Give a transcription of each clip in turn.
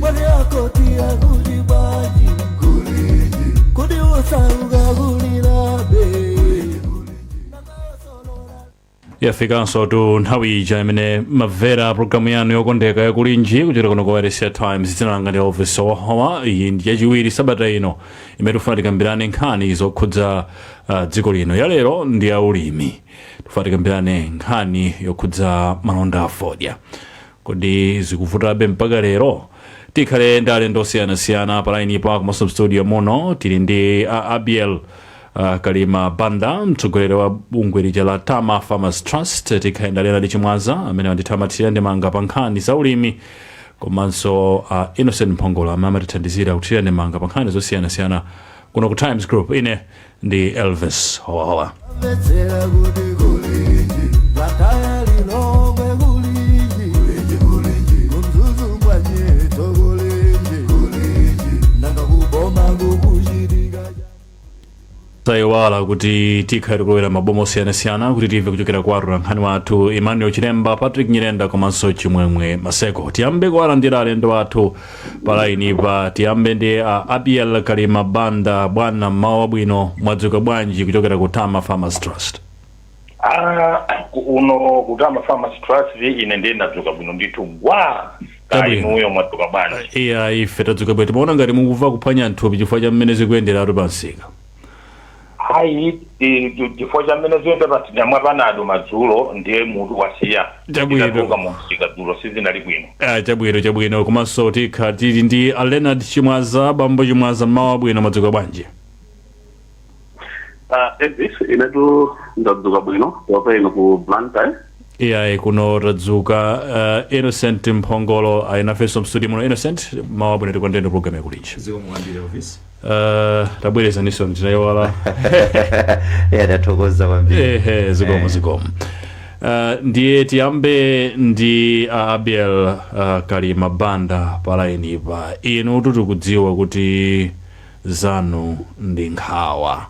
mwene akoti kulinji kuli usauka kulibe yafikanso tu nthawi ija imene mumamvera programu yanu yokondeka yakulinji kuchokera kuno kwa wailesi ya Times dzina langa ndi elvis howahowa iyi ndi yachiwiri sabata ino imene tifuna tikambirane nkhani zokhudza uh, dziko lino yalero ndi ya ulimi tifuna tikambirane nkhani yokhudza malonda a fodya Kodi zikuvutabe mpaka lero? Tikhale ndi alendo osiyanasiyana pa line pa komanso mstudio muno tili ndi a Abiel uh, Kalima Banda mtsogoleri wa bungwe lija la Tama Farmers Trust tikhale ndi a Leonard Chimwaza amene amathira ndemanga pa nkhani za ulimi komanso uh, Innocent Mphongolo amene amatithandizira kuthira ndemanga pa nkhani zosiyanasiyana kuno ku Times Group ine ndi elvis howahowa Mvetsera kuti kulinji Vataya lilongwe kulinji Kulinji kulinji Kumzuzu kwa nyeto kulinji Kulinji Nanga kuboma kukuchitika osayiwala kuti tikhala tikulowera mmaboma osiyanasiyana kuti timve kuchokera kwa atolankhani athu emmanuel chilemba patrick nyirenda komanso chimwemwe maseko tiyambe kuwalandira alendo athu palaini pa tiyambe ndi a abiel kalima banda bwana mmawa wabwino mwadzuka bwanji kuchokera ku tama farmers trust Ah, ku- uno ku tama farmers trust ine ndiye ndadzuka bwino ndithu gwa Chabwino. kaya inuyo mwadzuka bwanji iya ife tadzuka bwino timaona ngati mukumva kuphwanya mthupi chifukwa cha mmene zikuyenderatu pa msika Ayi, i- i- chifukwa cha mmene zikuyendera paja ndinamwa panado madzulo ndiye mutu wasiya Chabwino. Ndinatuluka mu msika dzulo sizinali bwino Ah, chabwino chabwino komanso tikha tili ndi a leonard chimwaza bambo chimwaza mmawa wabwino mwadzuka bwanji Ah, Elvis, inetu ndadzuka bwino kaya inu ku Blantyre iyayi kuno tadzuka uh, innocent mphongolo ali nafenso mstudio muno innocent mmawa wabwino takulandirani program yakulinji zikomo kwambiri elvis uh, tabwerezaninso ndinayiwala ya ndathokoza kwambiri ehe zikomo zikomo Uh, ndiye tiyambe ndi uh, abiel uh, kalima banda palaini pa inu tikudziwa kuti zanu ndi nkhawa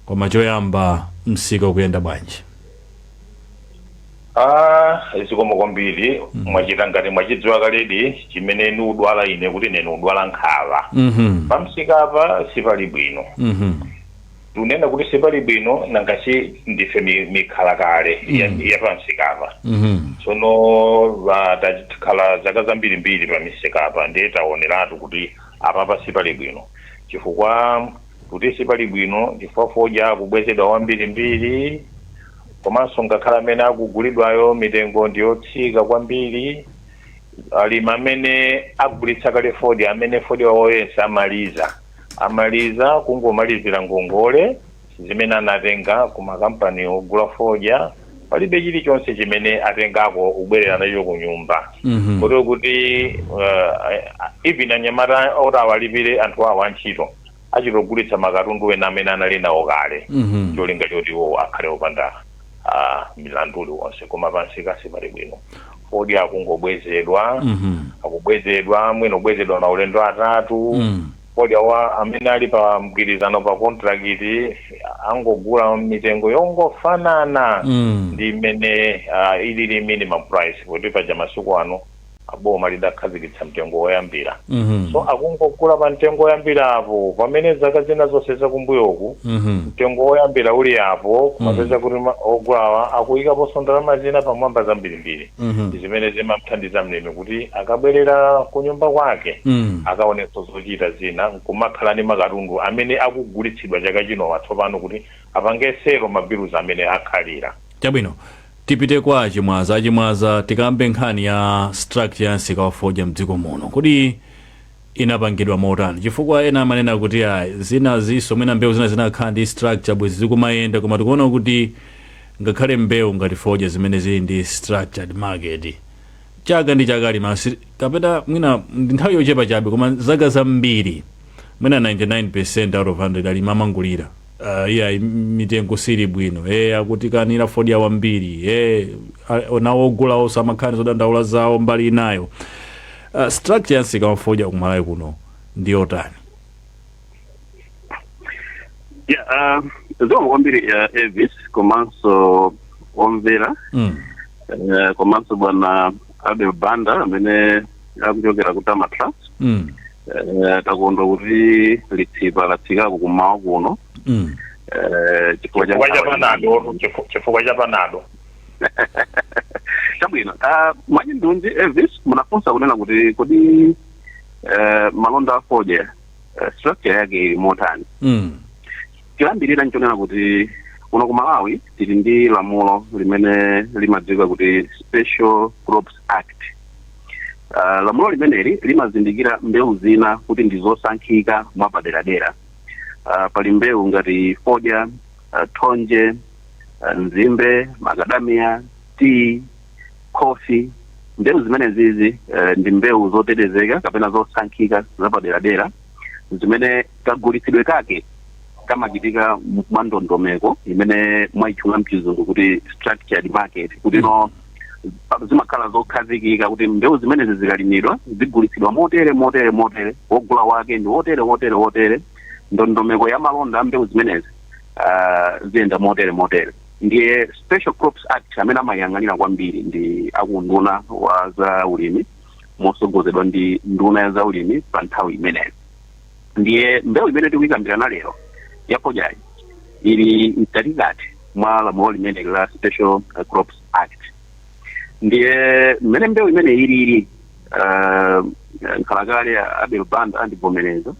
koma choyamba msika ukuyenda bwanji Ah, zikomo kwambiri mwachita ngati mwachidziwa kaledi chimene nikudwala ine kuti ine nikudwala nkhawa Mhm. pamsika apa sipali bwino Mhm. tunena kuti sipali bwino nanga si ndife mi- mikhala kale ya- Mm. ya pamsika apa Mhm. tsono va- takhala zaka zambirimbiri pamisika apa ndiye taoneratu kuti apapa sipali bwino chifukwa kuti sipali bwino chifukwa fodya akubwezedwa wambirimbiri komanso ngakhale amene akugulidwayo mitengo ndi yotsika kwambiri. Alimi amene agulitsa kale fodya, amene fodya wawo yense amaliza, amaliza kungomalizira ngongole zimene anatenga kumakampani ogula fodya. palibe chilichonse chimene atengako kubwerera nacho ku nyumba Mhm. kotero kuti uh, even anyamata oti awalipire anthu awo antchito achita kugulitsa makatundu ena amene anali nawo kale Mhm. cholinga choti iwowo akhale opanda ah, mlandu uliwonse koma pamsika sipali bwino fodya akungobwezedwa Mhm. akubwezedwa mwina kubwezedwa maulendo atatu Mm. Fodya amene ali pa mgwirizano pa kontrakiti akungogula mitengo yongofanana Mm. ndi imene ah, ilili minimum price poti paja masiku ano ah, boma lidakhazikitsa mtengo woyambira Mhm. so akungogula pa mtengo woyambira apo pamene zaka zina zonse zakumbuyoku Mhm. mtengo woyambira uli apo kumapeza kuti ma- ogulawa akuyikaponso ndalama zina pamwamba zambirimbiri Mhm. ndi zimene zimamthandiza mlimi kuti akabwerera kunyumba kwake Mm. akaonenso zochita zina nkumakhala ndi makatundu amene akugulitsidwa chaka chinowa tsopano kuti apange settle mabilu amene atsalira chabwino tipite kwa a Chimwaza a Chimwaza tikambe nkhani ya structure ya msika wa fodya mdziko muno kodi inapangidwa motani chifukwa ena amanena kuti ayi zinazinso mwina mbewu zina zinakakhala ndi structure bwezi zikumayenda koma tikuona kuti ngakhale mbewu ngati fodya zimene zili ndi structured market chaka ndi chaka alimi asi kapena mwina ndi nthawi yochepa chabe koma zaka zambiri mwina 99% out of 100 alimi amangolira Uh, iya mitengo sili bwino eh akutikanira fodya wambiri eh nawo ogula nso amakhala ndi zodandaula zawo mbali inayo uh, structure ya msika wa fodya ku Malawi kuno ndi yotani ya ah, zikomo kwambiri a Elvis komanso omvera mm. eh, komanso bwana Abel Banda amene akuchokera ku TAMA Trust Mm. eh, takondwa kuti litsipa latsikako kumawa kuno Mm. eh, chifukwa cha chifukwa cha nkhani ya panado imeneyi. chifu- chifukwa cha panado chabwino Ah, mwachindunji Elvis munafunsa kunena kuti kodi eh, malonda a fodya eh, structure yake ili motani Mm. choyambirira nchonena kuti kuno ku Malawi tili ndi lamulo limene limadziwika kuti Special Crops Act uh, lamulo limeneli limazindikira mbewu zina kuti ndi zosankhika mwapaderadera uh, pali mbewu ngati fodya uh, thonje uh, nzimbe makadamiya tiyi khofi mbewu zimenezizi uh, ndi mbewu zotetezeka kapena zosankhika zapaderadera zimene kagulitsidwe kake kamachitika m- mwa ndondomeko imene mwaitchula mchizungu kuti structured market kuti no pa- zimakhala zokhazikika kuti mbewu zimenezi zikalimidwa zigulitsidwa motere motere motere wogula wake ndi wotere wotere wotere ndondomeko ya malonda a mbewu zimenezi ah, ziyenda motere motere ndiye special crops act amene amaiyang'anira kwambiri ndi a ku unduna wa za ulimi motsogozedwa ndi nduna ya zaulimi pa nthawi imeneyo ndiye mbewu imene tikuyikambirana lero ya fodyayi ili mkatikati mwa lamulo limene la special uh, crops act ndiye mmene mbewu imene ili ili uh, nkhalakale a abel banda andivomereza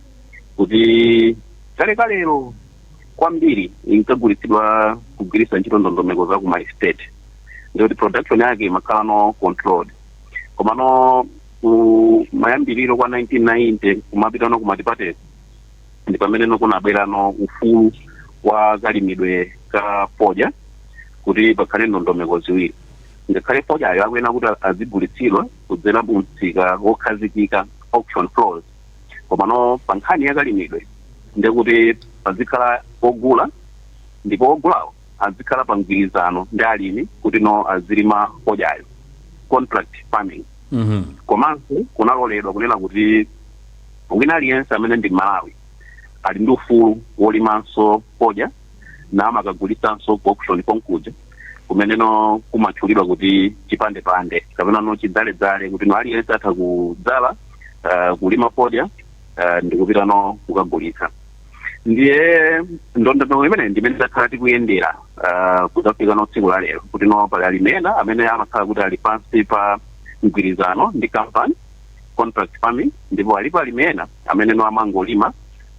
kuti kalekalero kwambiri inkagulitsidwa kugwiritsa ntchito ndondomeko za kuma estate ndikuti production yake imakhala no controlled komano ku mayambiriro kwa 1990 kumapita no kumatipateko ndi pamene no kunabwera no ufulu wa kalimidwe ka fodya kuti pakhale ndondomeko ziwiri ngakhale fodyayo akuyenera kuti azigulitsidwa kudzera mu msika wokhazikika auction floors komano pa nkhani ya kalimidwe ndekuti pazikhala ogula ndipo ogulawo azikhala pa mgwirizano ndi alimi kuti no azilima fodyayo contract farming Mhm. komanso kunaloledwa kunena kuti wina aliyense amene ndi mmalawi ali ndi ufulu wolimanso fodya na amakagulitsanso ku auction konkuja kumeneno kumatchulidwa kuti chipandepande kapena no chidzaledzale kuti no aliyense atha kudzala uh, kulima fodya uh, ndikupita no kukagulitsa ndiye ndondomeko imeneyi ndimene takhala tikuyendera ah, kudzafika no tsiku la lero kuti no pali alimi ena amene amakhala kuti ali pansi pa mgwirizano ndi company contract farming ndipo alipo alimi ena amene no amangolima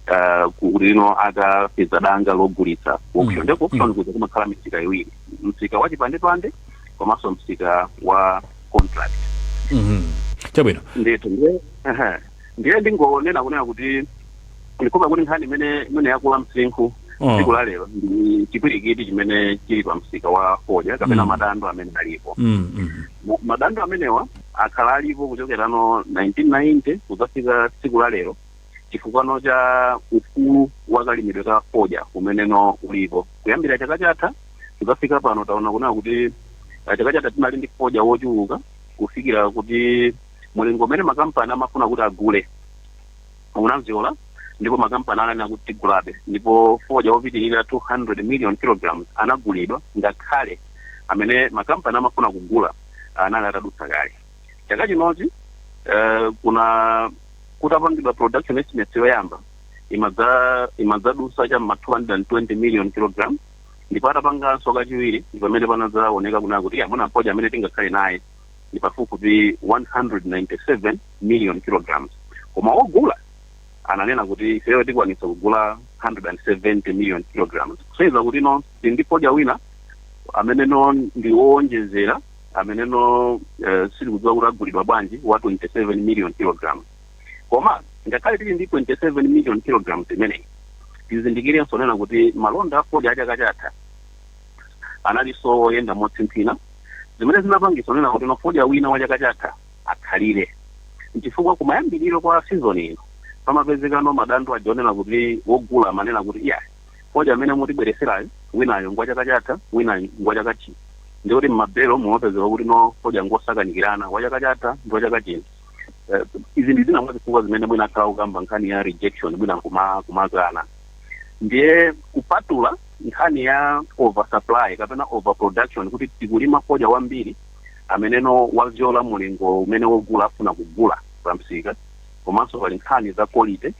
ah, kuti no akapeza danga logulitsa ku auction ndipo ku auction kuja kumakhala misika iwiri msika wa chipandepande komanso msika wa contract Mhm. chabwino ndithu ndiye ehe. ndiye ndingonena kunena kuti ndikumva kuti nkhani imene imene yakula msinkhu Mm. tsiku la lero ndi chipwirikiti chimene chili pa msika wa fodya kapena Mm. madandaulo amene alipo Mm, mm. Ma- madandaulo amenewa akhala alipo kuchokera no 1990 kudzafika tsiku la lero chifukwano cha ufulu wa kalimidwe ka fodya umeneno ulipo kuyambira chaka chatha kudzafika pano taona kunena kuti ah, chaka chatha tinali ndi fodya wochuluka kufikira kuti Mulingo umene makampani amafuna kuti agule unabzyola ndipo makampani ananena kuti tigulabe ndipo fodya wopitirira 200 million kilograms anagulidwa ngakhale amene makampani amafuna kugula anali atadutsa kale. Chaka chinochi eh, kuna kutapangidwa production estimates yoyamba imadza- imadzadusa cha ma 220 million kilogram ndipo atapanganso kachiwiri ndi pamene panadzaoneka kunena kuti amount ya fodya amene tingakhale naye ndi pafupifupi 197 million kilograms koma ogula ananena kuti ifeyo tikwanisa kugula 170 million kilograms kusonyeza kuti no tili ndi fodya wina amene no ndi woonjezera amene no eh, sitikudziwa kuti agulidwa bwanji wa 27 million kilograms koma ngakhale tili ndi 27 million kilograms imeneyi tizindikirenso nena kuti malonda a fodya achaka chatha analinso woyenda motsimphina, zimene zinapangitsa kunena kuti no fodya wina wa chaka chatha akhalire. N'chifukwa kumayambiriro kwa season ino pamapezeka no madandaulo aja onena kuti wogula amanena kuti iyayi fodya amene mutibweretserayu winayu ngwa chaka chatha winayu ngwa chaka chino. Ndiye kuti m'mabelo mumapezeka kuti no fodya ngosakanikirana wa chaka chatha ndi wa chaka chino. Eh, izi ndi zina mwa zifukwa zimene mwina akhala akukamba nkhani ya rejection mwina kuma kumakana. ndiye kupatula nkhani ya oversupply kapena overproduction kuti tikulima fodya wambiri ameneno wabzyola mulingo umene wogula afuna kugula pa msika komanso pali nkhani za quality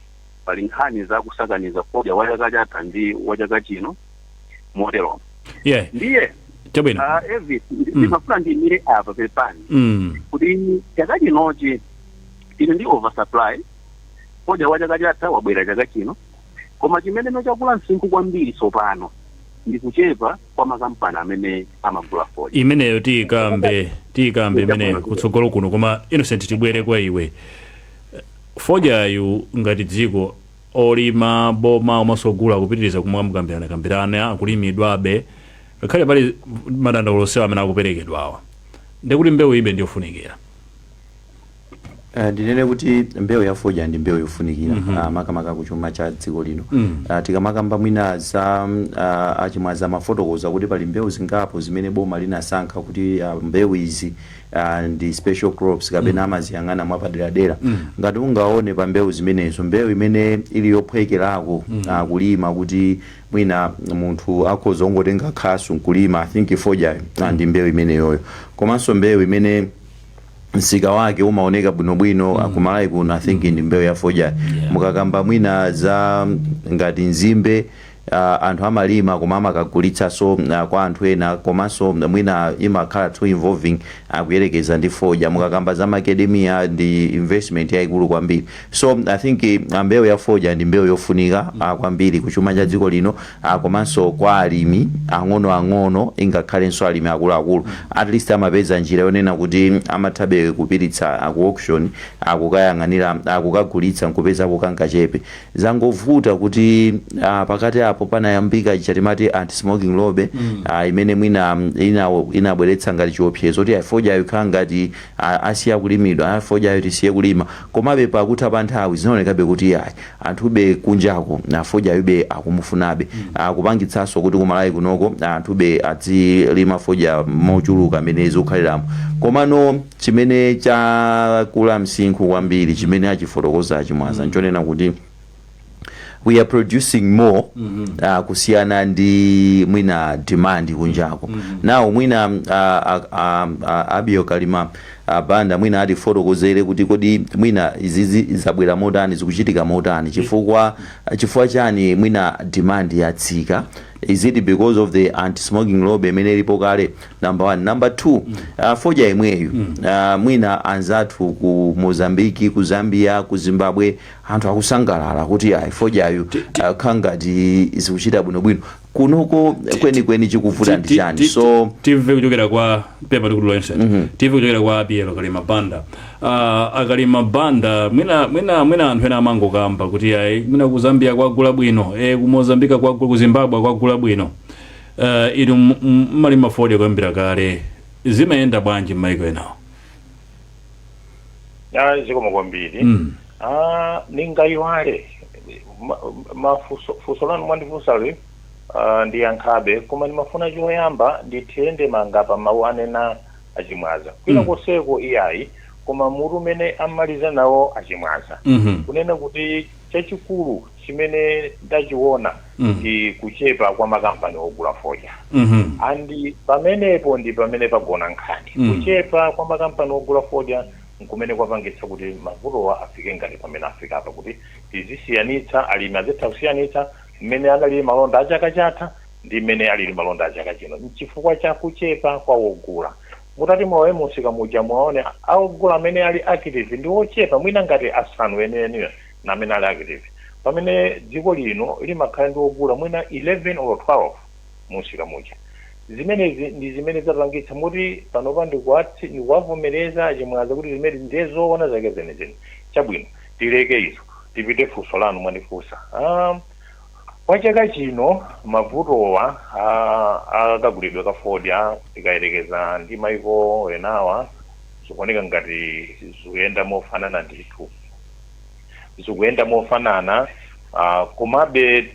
pali nkhani za kusakaniza fodya wa chaka chatha ndi wa chaka chino moteromo yeah ndiye chabwino ah, Elvis, ndi- ndimafuna ndiyimire apa pepani mm. kuti chaka chinochi tili ndi oversupply Fodya wa chaka chatha wabwera chaka chino, koma chimeneno chakula msinkhu kwambiri tsopano ndi kuchepa kwa makampani amene amagula fodya. imeneyo tiyikambe tiyikambe imeneyo kutsogolo kuno koma innocent tibwere kwa iwe fodyayu ngati dziko olima boma komanso ogula akupitiriza kumamukambiranakambirana akulimidwabe ngakhale pali madandaulo onsewa amene akuperekedwawa ndekuti mbewuyibe ndiyofunikira Uh, ndinene kuti mbewu ya fodya ndi mbewu yofunikira mm -hmm. uh, makamaka ku chuma cha dziko lino mm. uh, tikamakamba mwina za uh, achimwaza amafotokoza kuti pali mbewu zingapo zimene boma linasankha kuti uh, mbewu izi uh, ndi special crops kapena mm. amaziyang'ana mwapaderadera mm. ngati ungaone pa mbewu zimenezo mbewu imene ili yophwekerako mm. uh, kulima kuti mwina munthu akhoza kungotenga khasu nkulima i think fodya mm. ndi mbewu imeneyoyo komanso mbewu imene msika wake umaoneka bwinobwino mm. kumalawi kuno i think mm. ndi mbewu ya fodya yeah. mukakamba mwina za ngati nzimbe uh, anthu amalima koma amakagulitsanso uh, kwa anthu ena komanso mwina imakhala too involving a kuyerekeza ndi fodya mukakamba za macadamia ndi investment yayikulu kwambiri so i think uh, mbewu ya fodya ndi mbewu yofunika uh, kwambiri kuchuma cha dziko lino a komanso kwa alimi ang'onoang'ono ingakhalenso alimi akuluakulu at least amapeza njira yonena kuti amathabe kupititsa ku auction a kukayang'anira a kukagulitsa n'kupezako kangachepe. Zangovuta kuti a pakati apo panayambika ija timati anti smoking lobby a imene mwina ina inabweretsa ngati chiopsezo kuti ayi fodyayo ikhala ngati a asiya kulimidwa, a fodyayo tisiye kulima komabe pakutha pa nthawi zinaonekabe kuti ayi anthube kunjako fodyayube akumufunabe kupangitsanso kuti kumalawi kunoko anthu be adzilima fodya mochuluka mmene zikukhaliramu komano chimene chakula msinkhu kwambiri chimene achifotokoza achimwaza nchonena kuti we are producing more uh, kusiyana ndi mwina demand kunjako now mwina uh, uh, uh, uh, abiel kalima Banda mwina atifotokozere kuti kodi mwina izizi zabwera motani, zikuchitika motani chifukwa chifukwa chani mwina demand yatsika, is it because of the anti smoking lobby imene ilipo kale number one, number two fodya yemweyu mwina anzathu ku Mozambique, ku Zambia, ku Zimbabwe anthu akusangalala kuti ayi fodyayu kukhala ngati zikuchita bwinobwino. kunoko kwenikweni chikuvuta ndi chani so timve kuchokera kwa pepa likulu la inside timve kuchokera kwa abiel kalima banda Ah, akalima banda mwina mwina mwina anthu ena amangokamba kuti ayi mwina ku zambia kwagula bwino e, ku mozambika kwagula ku zimbabwe kwagula bwino uh, inu m- m- mmalima fodya kuyambira kale zimayenda bwanji mmaiko enawo Ah, zikomo kwambiri Mm. Ah, ningayiwale Ma- mafunso funso lanu mwandifunsali ah, ndiyankhabe koma ndimafuna choyamba ndithire ndemanga pa mawu anena achimwaza kwina Mm. konseko iyayi koma mutu umene amaliza nawo achimwaza Mhm. kunena kuti chachikulu chimene ndachiona mm. ndi kuchepa kwa makampani ogula fodya mm -hmm. and pamenepo ndi pamene pagona nkhani mm. kuchepa kwa makampani ogula fodya nkumene kwapangitsa kuti mavutowa afike ngati pamene afika apa kuti tizisiyanitsa alimi azitha kusiyanitsa mmene analili malonda a chaka chatha ndi mmene alili malonda a chaka chino nchifukwa cha kuchepa kwa wogula mutati mulowe mumsika muja muwaone a ogula amene ali active ndi ochepa mwina ngati asanu enieniwo namene ali active pamene dziko lino limakhala ndi ogula mwina 11 olo 12 munsika muja zimenezi ndizimene zapangitsa moti panopa ndikuwavomeleza achimwaza kuti zimenezi ndiye zoona zake zenizeni chabwino tileke izo tipite funso lanu mwandifunsa um, kwa chaka chino mavutowa akagulidwe ka fodya tikayerekeza ndi maiko enawa zikuoneka ngati zikuyenda mofanana ndithu zikuyenda mofanana uh, komabe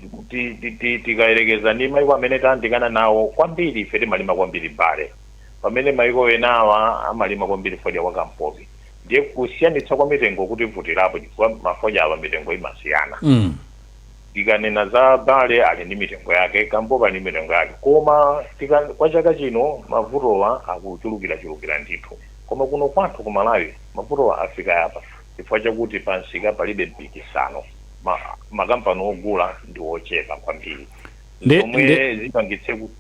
tikayerekeza ndi maiko amene tayandikana nawo kwambiri ife timalima kwambiri bale pamene maiko enawa amalima kwambiri fodya wa kampopi ndiye kusiyanitsa kwa mitengo kutivutirapo chifukwa mafodya awa mitengo imasiyana mm. tikanena za bale ali ndi mitengo yake kampopi ali ndi mitengo yake koma tika, kwa chaka chino mavutowa akuchulukirachulukira ndithu koma kuno kwathu ku malawi mavutowa afika apa chifukwa chakuti pamsika palibe mpikisano, ma, makampani ogula ndi ochepa kwambiri Nde- zomwe nde- zipangitse kuti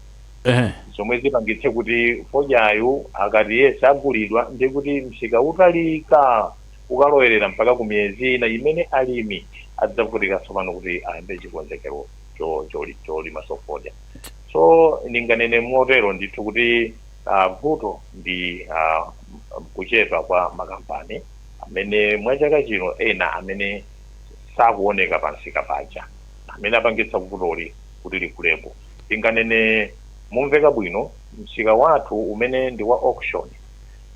ehe zomwe zipangitse kuti fodyayu akati yese agulidwa ndi kuti msika utalika ukalowerera mpaka ku miyezi ina imene alimi adzavutika tsopano kuti ayambe chikonzekero cho- choli- cholimanso fodya so ndinganene motero ndithu kuti A, Vuto ndi a, kuchepa kwa makampani amene mwa chaka chino ena amene sakuoneka pa msika paja amene apangitsa vutoli kuti likulepo. Ndinganene momveka bwino msika wathu umene ndi wa auction,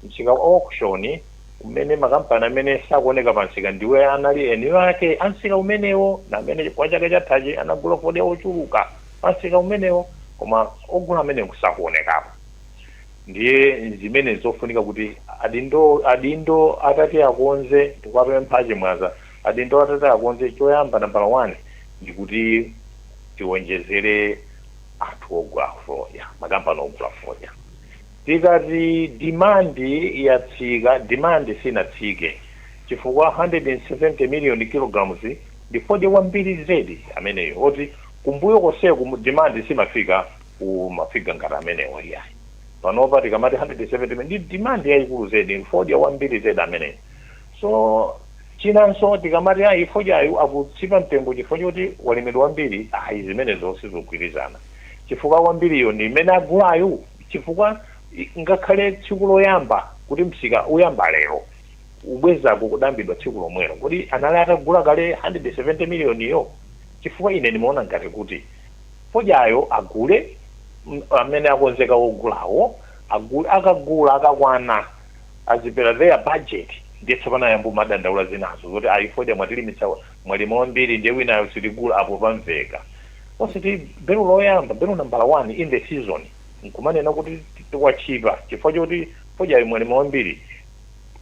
msika wa auction umene makampani amene sakuoneka pa msika ndiwo anali eni ake a msika umenewo ndi amene kwa chaka chathachi anagula fodya wochuluka. Pansika umenewo koma ogula amenewo sakuonekapo ndiye nzimene zofunika kuti adindo adindo atati akonze ndikuwapempha achimwaza adindo atati akonze choyamba nambala one ndikuti tiwonjezere anthu ogula fodya makampani ogula fodya tikati demand yatsika demand sinatsike chifukwa 170 million kilograms ndi fodya wambiri zedi ameneyo oti Kumbuyo konseku demand simafika ku ma figure ngati amenewo iyayi. Panopa tikamati 170 million ndi demand yayikulu zedi, ndi fodya wambiri zedi ameneyo. So chinanso tikamati ayi fodyayu akutchipa mtengo chifukwa choti walimidwa wambiri, ayi zimenezo sizogwirizana chifukwa wambiriyo ndi imene agulayo chifukwa ngakhale tsiku loyamba kuti msika uyamba lero, kubwezako kudayambidwa tsiku lomwelo. Kodi anali atagula kale 170 million yo? chifukwa ine ndimaona ngati kuti fodyayo agule amene akonzeka wogulawo agule akagula akakwana azipela their budget ndiye tsopano ayamba kumadandaula zinazo zoti ayi fodya mwatilimitsa mwalima wambiri ndiye winayo sitigula apo pamveka ositi belo loyamba belo nambala 1 in the season nkumanena kuti tikutchipa chifukwa choti fodyayo mwalima wambiri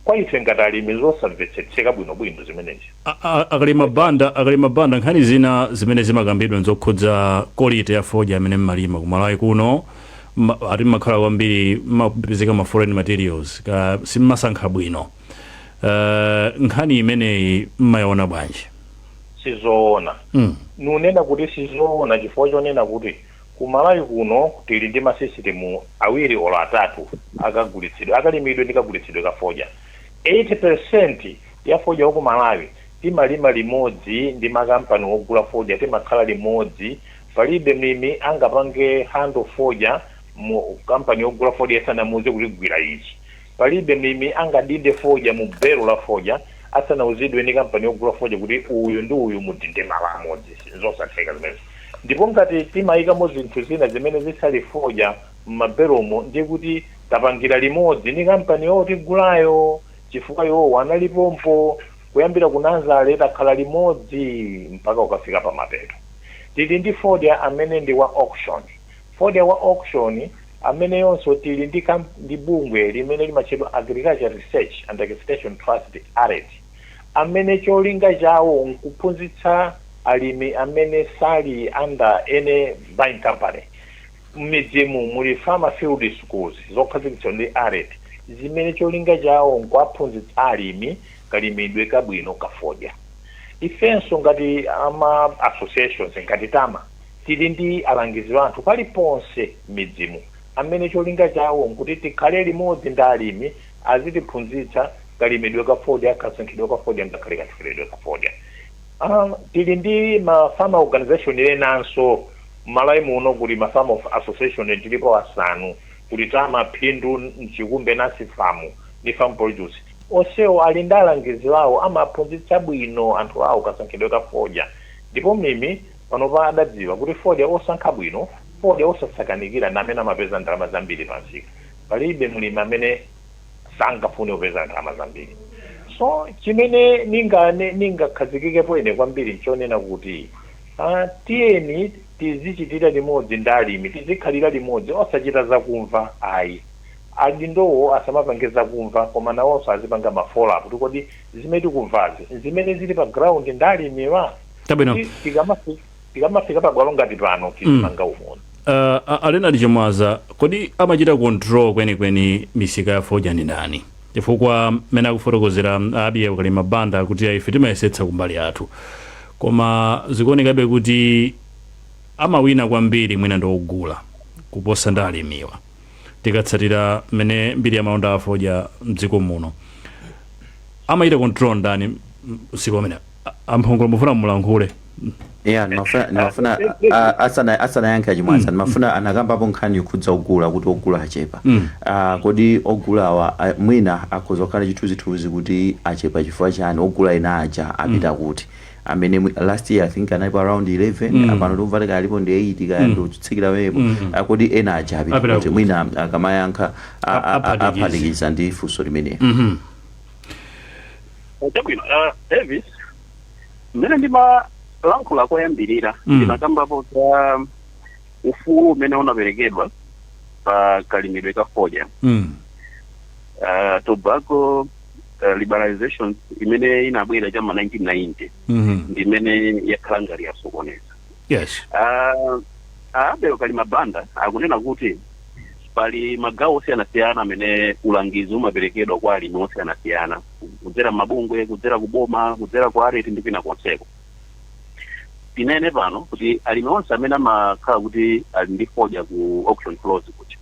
kwa ife ngati alimi zosamvetsetseka bwinobwino zimenezi. A- a- akalima banda akalima banda nkhani zina zimene zimakambidwa nzokhudza quality ya fodya amene mmalima ku malawi kuno ma- ati mmakhala kwambiri mmapezeka ma foreign materials ka simmasankha bwino uh, nkhani imeneyi mmayiona bwanji sizoona mm. nikunena kuti sizoona chifukwa chonena kuti Ku Malawi kuno tili ndi masisitimu awiri olo atatu a kagulitsidwe akalimidwe ndi kagulitsidwe ka fodya. 80% ya fodya wa ku Malawi timalima limodzi ndi makampani wogula fodya timakhala limodzi. Palibe mlimi angapange handle fodya mu kampani wogula fodya asanamuuze kuti gwira ichi. Palibe mlimi angadinde fodya mu belo la fodya asanauzidwe ndi kampani yogula fodya kuti uyu ndi uyu mudinde malo amodzi. Nzosatheka zimenezo. Ndipo ngati timaikamo zinthu zina zimene zisali fodya m'mabelomo ndiye kuti tapangira limodzi ndi kampani yotigulayo chifukwa iwowo anali pompo kuyambira ku nazale. Takhala limodzi mpaka kukafika pamapeto. Tili ndi fodya amene ndi wa auction Fodya wa auction ameneyonso tili ndi kamp ndi bungwe limene limatchedwa Agriculture Research and Extension Trust, Aret, amene cholinga chawo nkuphunzitsa alimi amene sali under any buying company mmidzimu muli farmer field schools zokhazikitsidwa ndi Aret zimene cholinga chawo nkuwaphunzitsa alimi kalimidwe kabwino ka fodya. Ifenso ngati a ma associations ngati Tama. Tili ndi alangizi athu paliponse m'midzimu amene cholinga chawo n'kuti tikhale limodzi ndi alimi, azitiphunzitsa kalimidwe ka fodya, kasankhidwe ka fodya ngakhale kathyoledwe ka fodya. Tili ndi ma farmer organization enanso. M'Malawi muno kuli ma farmer association tilipo asanu. Kuli Tama, Phindu, Mchikumbe, Nasfam ndi Farm Produce. Onsewo ali ndi alangizi awo, amaphunzitsa bwino anthu awo kasankhidwe ka fodya ndipo mlimi Panopa adadziwa kuti fodya osankha bwino, fodya osasakanikira ndi amene amapeza ndalama zambiri pamsika. Palibe mlimi amene sangafune kupeza ndalama zambiri. So, chimene ningane, ningakhazikikepo ine kwambiri nchonena kuti, ah, tiyeni tizichitira limodzi ndi alimi, tizikhalira limodzi, osachita zakumva ayi. Adindowo asamapange zakumva koma nawonso azipanga ma follow up kuti kodi zimene tikumvazi nzimene zili pa ground ndi alimiwa? Chabwino. Kuti tikamafi- tikamafika pabwalo ngati pano tizimanga umodzi Uh, a- a Leonard Chimwaza kodi amachita control kwenikweni misika ya fodya ndi ndani chifukwa mmene akufotokozera a Abel Kalima Banda kuti ife timayesetsa kumbali yathu koma zikuonekabe kuti amawina kwambiri mwina ndi ogula kuposa ndi alimiwa tikatsatira mmene mbiri ya malonda a fodya mdziko muno amachita control ndani msika umenewo A Mphongolo mufuna mulankhule. Yeah, nimafuna nimafuna ah, asana asanayankhe achimwaza nimafuna anakambapo nkhani yokhudza ogula kuti ogula achepa Ah, kodi ogulawa ah, mwina akhoza kukhala chithunzithunzi kuti achepa chifukwa chani ogula ena aja apita kuti amene mwi- last year i think analipo around 11 apano ndikumva akuti alipo ndi 8 kaya ndikutsikirapo Ah, kodi ena aja apita Apita kuti kuti. mwina akamayankha ah, ah, ah, Aphatikiza. aphatikiza ndi funso limeneli Mhm. chabwino uh, davis mmene ndimalankhula koyambirira Mm. ndinakambapo za ufulu umene unaperekedwa pa kalimidwe ka fodya Mm. uh, tobacco uh, liberalization imene inabwera cha ma 1990 Mhm. ndi imene yakhala ngati yasokoneza yes Uh, abel kalima banda akunena kuti pali magawo osiyanasiyana amene ulangizi umaperekedwa kwa alimi osiyanasiyana kudzera mabungwe kudzera kuboma kudzera kwa ARET ndi kwina konseko tinene pano kuti alimi onse amene amakhala kuti ali ndi fodya ku auction floors kuti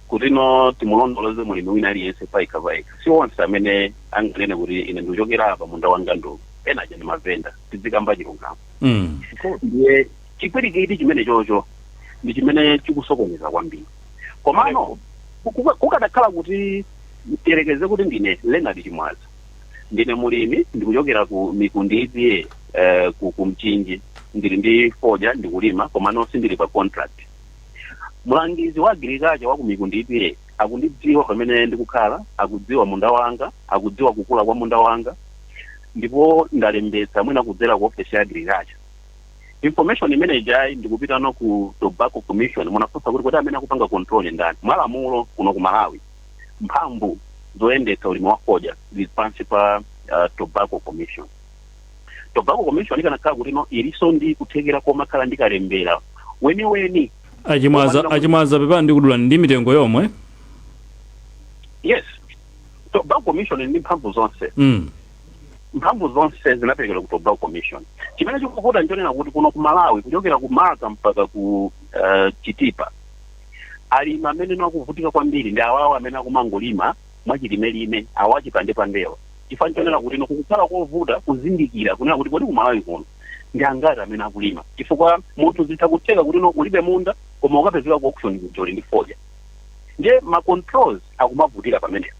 kuti no timulondoloze mulimi wina aliyense paika paika si onse amene anganene kuti ine ndikuchokera apa munda wanga ndi uwu ena aja ndi mavenda tizikamba chilungamo Mm. so ndiye chipwirikiti chimene chocho ndi chimene chikusokoneza kwambiri komano kuka- kukadakhala kuti tiyerekeze kuti ndine leonard chimwaza ndine mulimi ndikuchokera ku mikundi EPA eh, ku, ku mchinji ndili ndi fodya ndikulima komano sindili pa contract mlangizi wa agirikacha wa ku mikundi EPA akundidziwa pamene ndikukhala akudziwa munda wanga akudziwa kukula kwa munda wanga ndipo ndalembetsa mwina kudzera ku ofesi ya agriculture information imene ijayi ndikupita no ku tobacco commission munafunsa kuti kodi amene akupanga control ndi ndani mwalamulo kuno ku malawi mphamvu zoyendetsa ulimi wa fodya zili pansi pa uh, tobacco commission tobacco commission ikanakhala kuti no ilinso ndi kuthekera komakhala ndi kalembera weniweni achimwaza achimwaza pepani ndikudula ndi mitengo yomwe yes tobacco commission ili ndi mphamvu zonse Mm. mphamvu zonse zinaperekedwa ku tobacco commission chimene chikuvuta nchonena kuti kuno ku malawi kuchokera ku marka mpaka ku uh, chitipa alimi amene akuvutika kwambiri ndi awawa amene akumangolima mwachilimelime awa achipandepandewa chifukwa nchonena kuti no kukukhala kovuta kuzindikira kunena kuti kodi ku malawi kuno ndi angati amene akulima chifukwa munthu zitha kutheka kuti no ulibe munda koma ukapezeka ku auction kuja uli ndi fodya ndiye ma controls akumavutira pamenepo.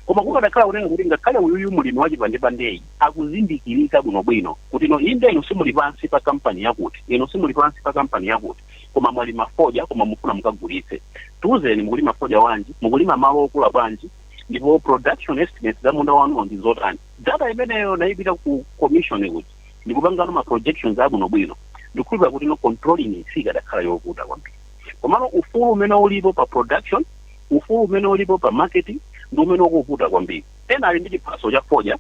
Koma kukadakhala kunena kuti ngakhale uyuyu mlimi wachipandepandeyi akuzindikirika bwinobwino kuti no inde inu simuli pansi pa kampani yakuti, inu simuli pansi pa kampani yakuti, koma mwalima fodya koma mukufuna mukagulitse. Tiuzeni mukulima fodya wanji, mukulima malo okula bwanji, ndipo production estimates za munda wanuwo ndi zotani. Data imeneyo n'kupita ku commission kuja ndikupangano ma projections abwinobwino, ndikukhulupirira kuti no controlling sikadakhala yovuta kwambiri. Komano ufulu umene ulipo pa production, ufulu umene ulipo pa marketing ndi umene ukuvuta kwambiri. Ena ali ndi chiphatso cha fodya,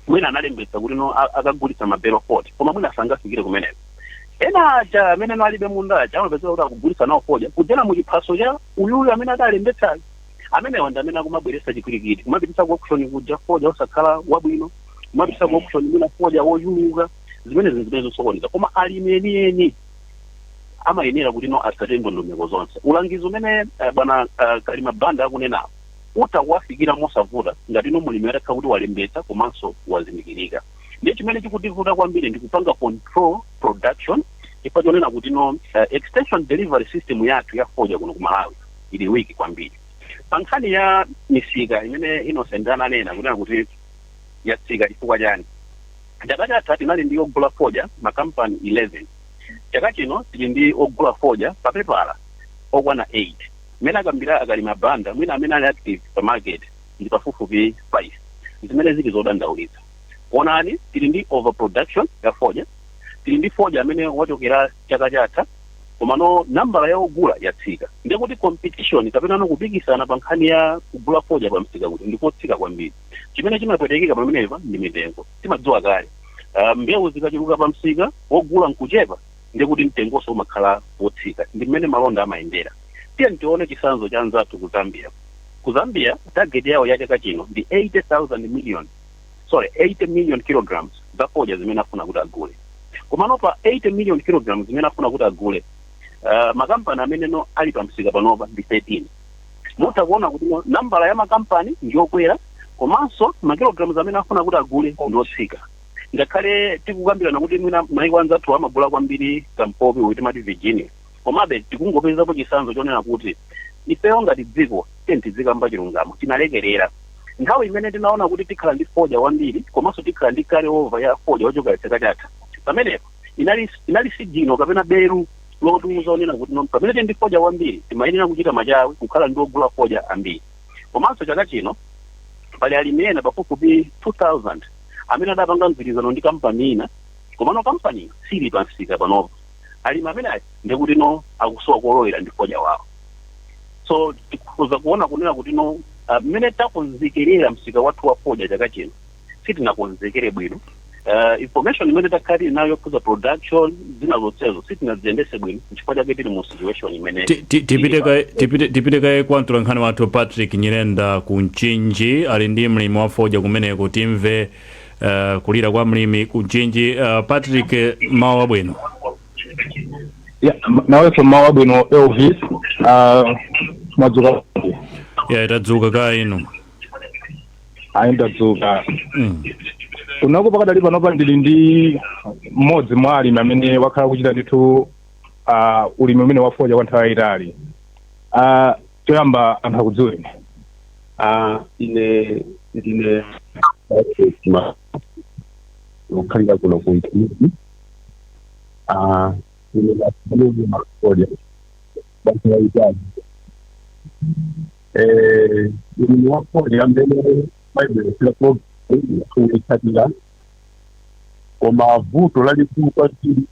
mwina analembetsa kuti no a- akagulitsa mabelo 40, koma mwina sangafikire kumeneko. Ena aja amene no alibe munda aja amapezeka kuti akugulitsa nawo fodya kudzera mu chiphatso cha uyuyu amene adalembetsayo. Amenewa ndi amene akumabweretsa chipwirikiti, kumapititsa ku auction kuja fodya osakhala wabwino, kumapititsa ku auction mwina fodya wochuluka, zimenezi zimene zikusokoneza. Koma alimi enieni amayenera kuti no atsate ndondomeko zonse ulangizi umene eh, bwana eh, kalima banda akunena apa, utha kuwafikira mosavuta ngati no mulimi atakhala kuti walembetsa komanso wazindikirika ndiye chimene chikutivuta kwambiri ndi kupanga control production chifukwa chonena kuti no eh, extension delivery system yathu ya fodya kuno ku malawi ili weak kwambiri pa nkhani ya misika imene innocent ananena kunena kuti yatsika chifukwa chani Chaka chatha tinali ndi ogula fodya makampani 11. Chaka chino tili ndi ogula fodya papepala okwana 8. Mmene akambira a Kalima Banda, mwina amene ali active pa market ndi pafupifupi 5. Zimene zili zodandaulitsa. Onani, tili ndi overproduction ya fodya. Tili ndi fodya amene wachokera chaka chatha komano nambala ya ogula yatsika. Ndiye kuti competition kapenano kupikisana pa nkhani ya kugula fodya pamsika kuja ndi kotsika kwambiri. chimene chimapwetekeka pamenepa ndi mitengo timadziwa kale uh, mbewu zikachuluka pa msika wogula nkuchepa ndiye kuti mtengonso umakhala wotsika ndi mmene malonda amayendera tiye tione chitsanzo cha anzathu ku zambia ku zambia target yawo ya chaka chino ndi 80 million sorry 80 million kilograms za fodya zimene afuna kuti agule komano pa 80 million kilograms zimene afuna kuti agule uh, makampani amene no ali pa msika panopa ndi 13 mutha kuona kuti nambala ya makampani ndiyokwera komanso makilograms amene akufuna kuti agule ndiotsika ngakhale tikukambirana kuti mwina maiko anzathu amagula kwambiri kampopi uyu timati virginia komabe tikungopezapo chisanzo chonena kuti ifeyo ngati dziko tiyeni tizikamba chilungamo tinalekerera nthawi imene tinaona kuti tikhala ndi fodya wambiri komanso tikhala ndi carry over ya fodya wochokera chaka chatha pamenepo inali sigino kapena beru lotiuza onena kuti no pamene tili ndi fodya wambiri timayenera kuchita machawi kukhala ndi ogula fodya ambiri komanso chaka chino pali alimi ena pafupifupi 2000 amene adapanga mgwirizano ndi kampani ina komano kampani sili pamsika panopa alimi amene ndikuti no akusowa kolowera ndi fodya wawo so tikhoza kuona kunena kuti no ah, mmene takonzekerera msika wathu wa fodya chaka chino sitinakonzekere bwino uh, information imene takhala tili nayo yokhuza production zina zonsezo sitinaziyendese bwino nchifukwa chake tili mu situation imene Ti- ti- tipite kaye- tipite- tipite kaye kwa mtolankhani wathu patrick nyirenda ku mchinji ali ndi mlimi wa fodya kumeneko timve uh, kulira kwa mlimi ku mchinji uh, patrick eh, mmawa wabwino Yeah, m- nawenso mmawa wabwino elvis ah, mwadzuka yeah, tadzuka kaye inu ayi ndadzuka Mm. kunako pakadali panopa ndili ndi mmodzi mwa alimi amene wakhala kuchita ndithu ah, ulimi umenewu wa fodya kwa nthawi yayitali Ah, choyamba anthu akudziweni Ah, ine ndine wokhalira kuno ku Mchinji. Ah, ine ndakhalira makolia. Basi waitali. eh, ulimi wa fodya mmene mwaibweretsera programu kuitsatira koma vuto lalikulu kwambiri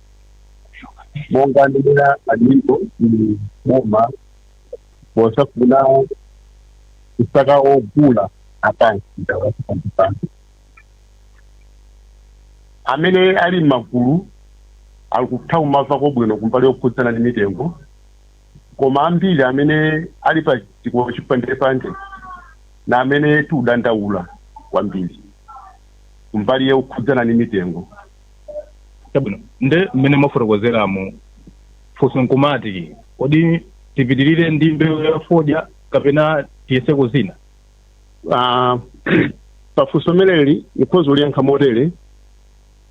monga ndimena aliko ndi boma posafuna kusaka ogula apansi ndawasipandipano amene ali m'magulu akutha kumvako bwino kumbali yokhudzana ndi mitengo koma ambiri amene ali pa dziko chipandepande ndi amene tikudandaula kwambiri kumbali yokhudzana ni mitengo chabwino nde mmene mwafotokozeramo funso nkumati kodi tipitirire ndi mbewu ya fodya kapena tiyeseko zina Ah, pafunso limeneli ndikhoza kuliyankha motere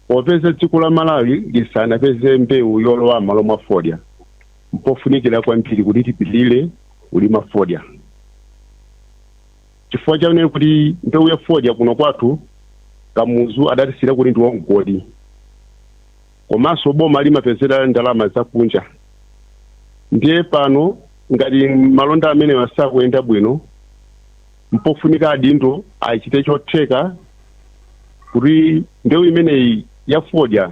popeza dziko la malawi lisanapeze mbewu yolowa malo mwa fodya Mpofunikira kwambiri kuti tipitirire kulima fodya chifukwa chonena kuti mbewu ya fodya kuno kwathu Kamuzu adatisiyira kuti ndiwo mgodi komanso boma limapezera ndalama zakunja. Ndiye pano ngati malonda amenewa sakuyenda bwino, mpofunika adindo achite chotheka kuti mbewu imeneyi ya fodya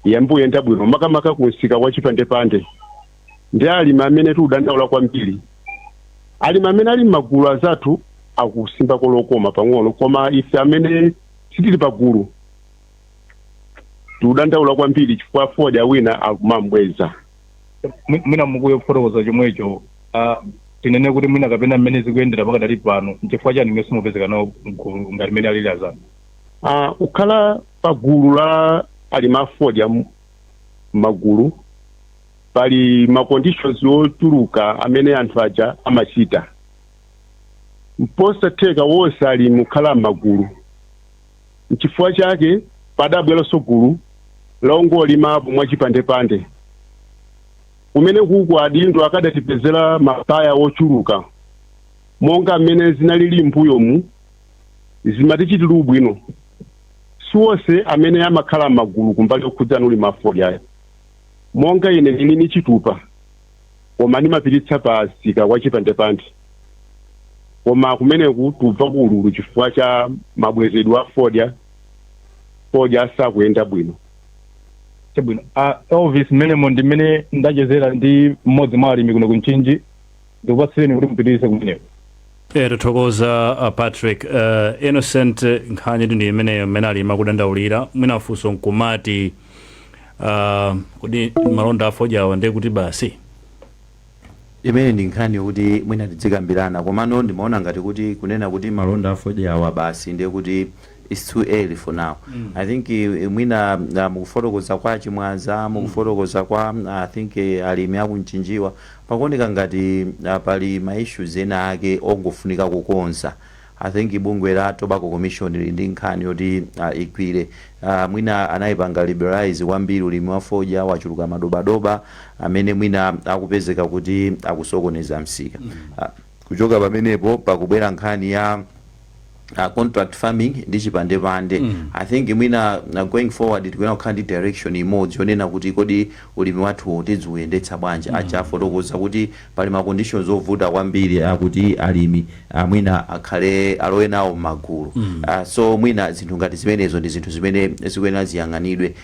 yambe uyenda bwino makamaka ku msika wa chipandepande ndi alimi amene tiudandaula kwambiri alimi amene ali m'magulu azathu akusimba lokoma pang'ono koma ife amene sitili pagulu tiudandaula kwambiri chifukwa fodya wina akumambweza Mwi- mwina muli kuyo kufotokoza chomwecho ah, tinene kuti mwina kapena mmene zikuyendera pakadali pano nchifukwa chani simupezeka nawo mgulu ngati mmene alili anzanu Ah, ukhala Pa gulu la alimi a fodya m'magulu pali ma conditions ochuluka amene anthu aja amachita. N'kosatheka onse alimi kukhala m'magulu. Nchifukwa chake padabweranso gulu la ongolimapo mwachipandepande, kumeneko ku adindo akadatipezera ma buyer ochuluka monga m'mene zinalili m'mbuyomu zimatichitira ubwino. Siwonse amene amakhala m'magulu kumbali yokhudzana ulimi wa fodya ayi. Monga ine nili ni chitupa koma nimapititsa pa msika wa chipandepande koma kumeneku tikumva ululu chifukwa cha mabwezedwe a fodya, fodya sakuyenda bwino. Chabwino a Elvis, mmenemo ndi mmene ndachezera ndi mmodzi mwa alimi kuno ku Mchinji. ndikupatsireni kuti mupitirize kumeneko Eh, tathokoza uh, patrick uh, innocent eh, nkhani ndi imeneyo mmene alimi akudandaulira mwina funso nkumati uh, kodi malonda afodyawa ndiye kuti basi imene ndi nkhani yokuti mwina tidzikambirana komano ndimaona ngati kuti kunena kuti malonda afodyawa basi ndiye kuti its too early for now i think eh, mwina ah, mukufotokoza kwa a Chimwaza mukufotokoza kwa ah, i think eh, alimi aku Mchinjiwa pakuoneka ngati ah, pali ma issues ena ake ongofunika kukonza i think bungwe la tobacco commission lili ndi nkhani yoti uh, igwire uh, mwina anayipanga liberalize kwambiri ulimi wa fodya wachuluka madobadoba amene mwina akupezeka kuti akusokoneza msika uh, Kuchoka pamenepo pakubwera nkhani ya contract farming ndi chipandepande. I think mwina going forward tikuyenera kukhala ndi direction imodzi yonena kuti kodi ulimi wathuwu tidziuyendetsa bwanji. Aja afotokoza kuti pali ma conditions ovuta kwambiri akuti alimi mwina akhale, alowe nawo m'magulu. So mwina zinthu ngati zimenezo ndi zinthu zimene zikuyenera ziyang'anidwe.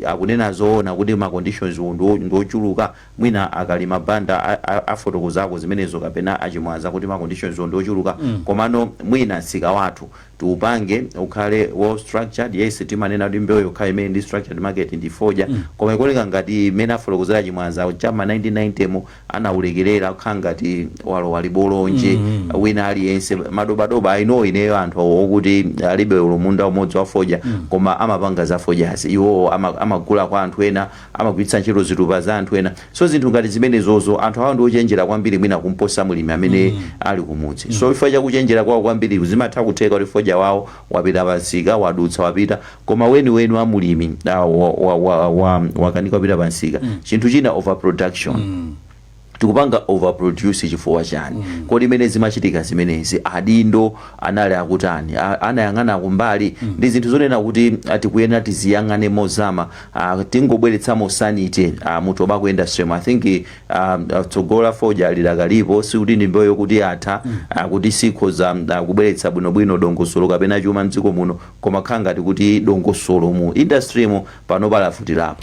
Akunena zoona kuti ma conditions wo ndi ochuluka? mwina a kalima banda afotokozako zimenezo kapena a chimwaza kuti ma conditions o ndiochuluka komano mwina msika wathu tiupange ukhale well structured yes timanena kuti mbewu yokhayo imene ndi structured market ndi fodya koma ikuoneka ngati mmene afotokozera a chimwaza cha mma 1990 mu anaulekelera kukhala ngati walowa chibolonje wina aliyense madobadoba i know ineyo anthu okuti alibe olo munda umodzi wa fodya koma amapanga za fodyazi iwowo ama- amagula kwa anthu ena amagwiritsa ntchito zitupa za anthu ena so zinthu ngati zimenezozo anthu awo ndiochenjera kwambiri mwina kumposa mlimi amene ali kumudzi so chifukwa chakuchenjera kwawo kwambiriku zimatha kutheka kuti fodya wawo wapita pamsika wadutsa wapita koma weniweni wa mlimi ah, wa- wa- wa- wa- wakanika kupita pamsika chinthu china overproduction tikupanga over produce chifukwa chani mm. kodi mmene zimachitika zimenezi adindo anali akutani anayang'ana kumbali mm. ndi zinthu zonena kuti tikuyenera tiziyang'ane mozama uh, tingobweretsamo sanity uh, mu tobacco industry i think uh, tsogolo la fodya lidakalipo sikuti ndi mbewu yoti yatha mm. uh, kuti sikhoza uh, kubweretsa bwinobwino dongosolo kapena chuma mdziko muno koma kukhala ngati kuti dongosolo mu industry mu pano palavutirapo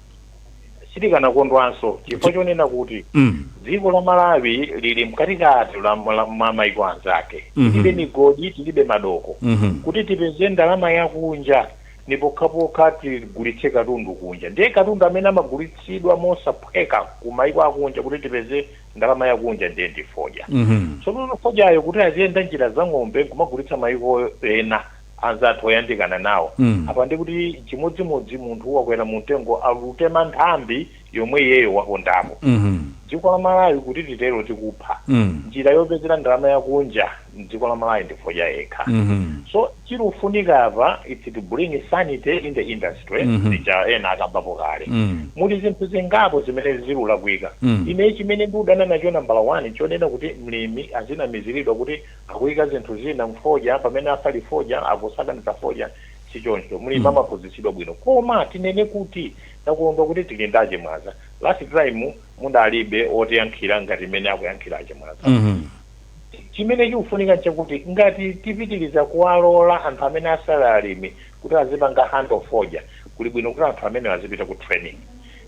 sitikanakondwanso chifukwa Chi- chonena kuti Mm. dziko la malawi lili mkatikati la- la- mwa maiko anzake Mhm. tilibe migodi tilibe madoko Mhm. kuti tipeze ndalama yakunja ndi pokhapokha tigulitse katundu kunja ndiye katundu amene amagulitsidwa mosaphweka ku maiko akunja kuti tipeze ndalama yakunja ndiye ndi fodya Mhm. tsono fodyayo kuti aziyenda njira za ng'ombe nkumagulitsa maiko ena anzathu oyandikana nawo. Apa ndiye kuti n'chimodzimodzi munthu wakwera mumtengo akutema nthambi yomwe iyeyo wapondapo. Dziko la Malawi kuti titero tikupha. Njira yopezera ndalama yakunja m'dziko la Malawi ndi fodya yekha. So chirufunika apa it's to bring sanity in the industry zija ena akambapo kale. Muli zinthu zingapo zimene zirulakwika. Ine chimene ndudana nacho nambala wani nchonena kuti mlimi azinamiziridwa kuti akuika zinthu zina mfodya pamene asali fodya akusakaniza fodya sichoncho mlimi mm. amaphunzitsidwa bwino koma tinene kuti takondwa kuti tili ndi achimwaza last time munalibe otiyankhira ngati mmene akuyankhira achimwaza mm -hmm. chimene chikufunika nchakuti ngati tipitiriza kuwalola anthu amene asali alimi kuti azipanga handle fodya kuli bwino kuti anthu amenewa azipita ku training